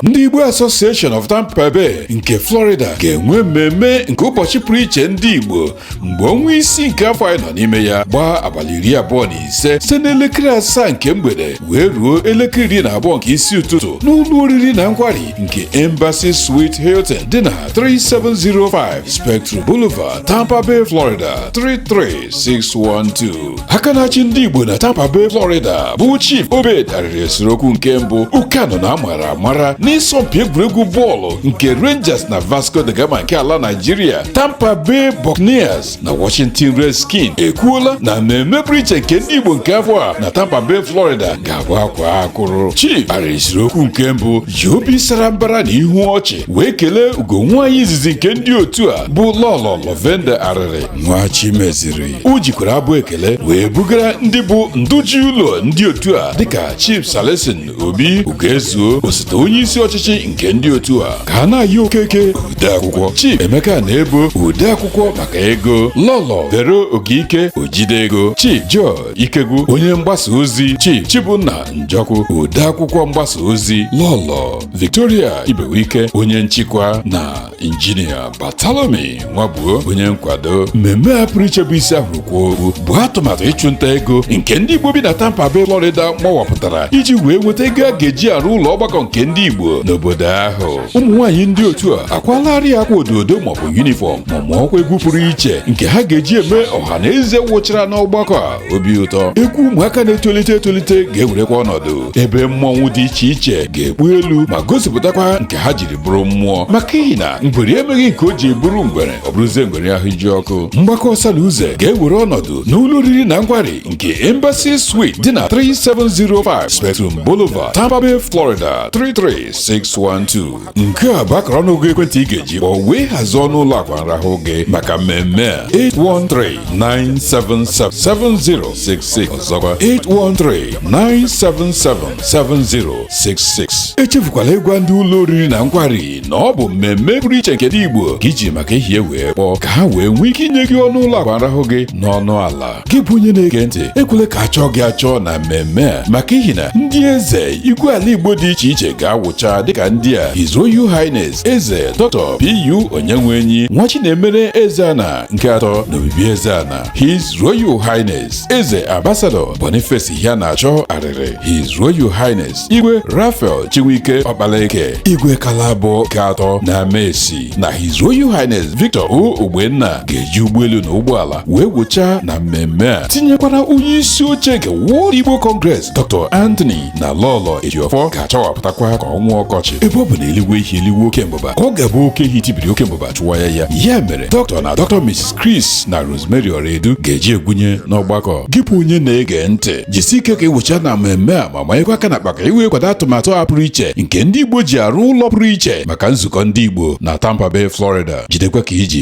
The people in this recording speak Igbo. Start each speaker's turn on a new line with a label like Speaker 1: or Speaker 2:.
Speaker 1: ndị Igbo Association of Tampa Bay nke Florida ga-enwe mmemme nke ụbọchị pụrụ iche ndị Igbo mgbe ọnwa isii nke afọ anyị nọ n'ime ya gbaa abalị iri abụọ na ise site n'elekere asaa nke mgbede wee ruo elekere iri na abụọ nke isi ụtụtụ n'ụlọ oriri na nkwari nke Embassy Suite Hilton dị na 3705 Spectrum Boulevard, Tampa Bay, Florida 33612. aka na-achị ndị Igbo na Tampa Bay Florida bụ Chief Obed Arịrị Esirokwu nke mbụ Ukano na amara amara n'ịsọmpi egwuregwu bọọlụ nke Rangers na Vasco da Gama nke ala Nigeria Tampa Bay Buccaneers na Washington Redskins ekwuola na mmemme pụrụ iche nke ndị Igbo nke afọ a na Tampa Bay Florida ga-abụ akwaa akwụrụ Chief Arịrị Esirokwu nke mbụ ji obi sara mbara na ihu ọchị wee kelee ugo nwaanyị izizi nke ndị otu a bụ Lọlọ Lovenda Arịrị Nwachimeziri o jikwara abụ ekele wee bugara ndị bụ ndụ ji ụlọ ndị otu a dịka Chief Celestine Obi Ugoezuo osote onye isi ọchịchị nke ndị otu a Kanayọ Okeke odeakwụkwọ Chief Emeka Anaebo odeakwụkwọ maka ego Lọlọ Vero Ogike ojide ego Chief George Ikegwu onye mgbasa ozi Chief Chibunna Njọkụ odeakwụkwọ mgbasa ozi Lọlọ Victoria Ibewike onye nchịkwa na injinia Bartholomew Nwabuo onye nkwado mmemme a pụrụ iche bụ isi a hụrụ kwaa okpu bụ atụmatụ ịchụnta ego nke ndị igbo bi na tampa bay florida mawapụtara iji wee nweta ego a ga-eji arụ ụlọ ọgbakọ nke ndị igbo n'obodo ahụ ụmụ nwaanyị ndị otu a akwaalarị akwa ododo maọbụ yunifọm ma mụọkwa egwu pụrụ iche nke ha ga-eji eme ọha na eze wụchara n'ọgbakọ a obi ụtọ egwu ụmụaka na-etolite etolite ga-ewerekwa ọnọdụ ebe mmọnwụ dị iche iche ga-ekpu elu ma gosipụtakwa nke ha jiri bụrụ mmụọ maka ihi na ngwere emeghị nke o ji bụrụ ngwere ọ bụrụzie ngwere ahụ ji ọkụ mgbakọ ọsa na uze ga-ewere ọnọdụ n'ụlọ oriri na nkwari nke Embassy Suite dị na 3705 Spectrum Boulevard Tampa Bay Florida 33612 nke a bụ akara ọnụọgụ ekwentị ị ga-eji kpọọ wee hazie ọnụ ụlọ akwa nrahụ gị maka mmemme a 813-977-7066 ọzọkwa 813-977-7066 7066 echefukwala ịgwa ndị ụlọ oriri na nkwari na ọ bụ mmemme pụrụ iche nke ndị Igbo ka i ji maka ihi ya wee kpọọ ka ha wee nwee ike inye gị ọnụ ụlọ akwa nrahụ gị n'ọnụ ala gị bụ onye na-ege ntị ekwele ka a chọọ gị achọọ na mmemme a maka ihi na ndị eze igwe ala Igbo dị iche iche ga-awụcha dịka ndị a His Royal Highness Eze Dr. PU Onyenwenyi Nwachinemere Ezeana nke atọ na Obibi Ezeana His Royal Highness Eze Ambassador Boniface Iheanacho Arịrị His Royal Highness Igwe Raphael Chinwike Ọkpalaeke Igwe Akalabọ nke atọ na Amaesi na His Royal Highness Victor O Ogbenna ga-eji ụgbọelu na ụgbọala wee wụchaa na mmemme a tinyekwara onye isi oche nke World Igbo Congress Dr. Anthony na Lọlọ Ejiofor ga-achawapụtakwa ka ọnwa ọkọchị ebe ọ bụ na eluigwe ihe eluigwe oke mbụba ka ọ ga-abụ oke ehi tibiri oke mbụba chụwa ya ya ya mere Dr. na Dr. Mrs. Chris na Rose Rosemary Ọraedu ga-eji egwunye n'ọgbakọ gị bụ onye na-ege ntị jisi ike ka ị wụchaa na mmemme a ma manyekwa aka na akpa ka i wee kwado atụmatụ a pụrụ iche nke ndị Igbo ji arụ ụlọ pụrụ iche maka nzukọ ndị Igbo na Tampa Bay Florida jidekwa ka i ji